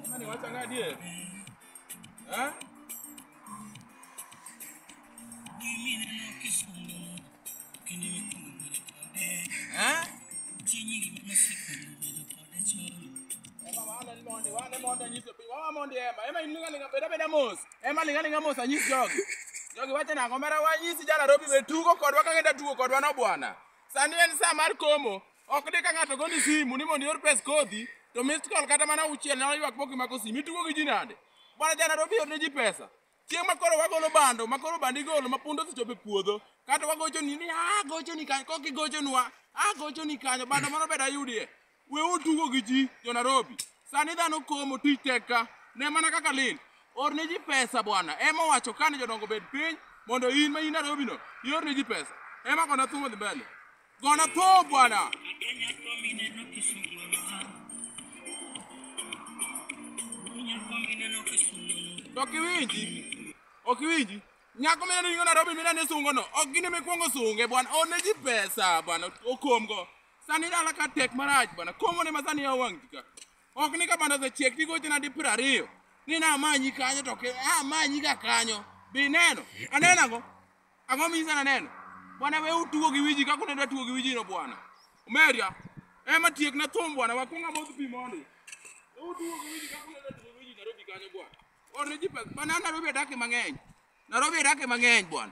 Jamani, wacha ngadi eh. Eh? Eh? Ema wala ni monde, wala monde nyiso piny. Wawa monde ema, ema ilinga linga beda beda mos. Ema linga linga mos anyis jogi. Jogi wacha nango mara wanyisi jana robi be tugo kodwa kaka enda tugo kodwa no bwana. Sani en saa mar komo. Ok de ka ng'ato goni simu ni mondo ior pes kodhi to missed call kata mana uchiel na ywak boki mako simu itugo gi ji nade. Bwana jana do biyo ne ji pesa. Chieng' ma koro wagolo bando ma koro bandi golo ma pundo osechopo e puodho kata wagocho ni ni ah gocho ni kanyo kok igochonwa ah gocho ni kanyo bando moro bed ayudie. We utugo gi ji jo Nairobi. Sani dhano komo tich tek ka. Ne mana kaka lil. Or ne ji pesa bwana. Ema owacho kane jodongo bed piny mondo in ma in Nairobi no ior ne ji pesa. Ema kona thum odhi mbele. Gona tho bwana. To ok iwinji. Ok iwinji. Nyako mene ni Nairobi mene ne sungo no. Ok gine me kwongo sunge bwana. Or ne ji pesa bwana. Okomgo. Sani dala ka tek marach bana. Komo ne ma sani ya wang' tika. Ok ni ka bana osechiek tigo tena di piero ariyo. Ni na amanyi kanyo to ke, ah, amanyi ga kanyo. Bi neno. Aneno ang'o? Ang'o misa na neno? Bwana we utugo gi wiji kako ne datugo gi wiji no bwana. Umeria. Ema tiek na thum bwana wakunga modh pi mondi. We utugo gi wiji kako ne datugo gi wiji Nairobi kanyo bwana. Orne ji pesa. Bwana Nairobi adake mang'eny. Nairobi adake mang'eny bwana.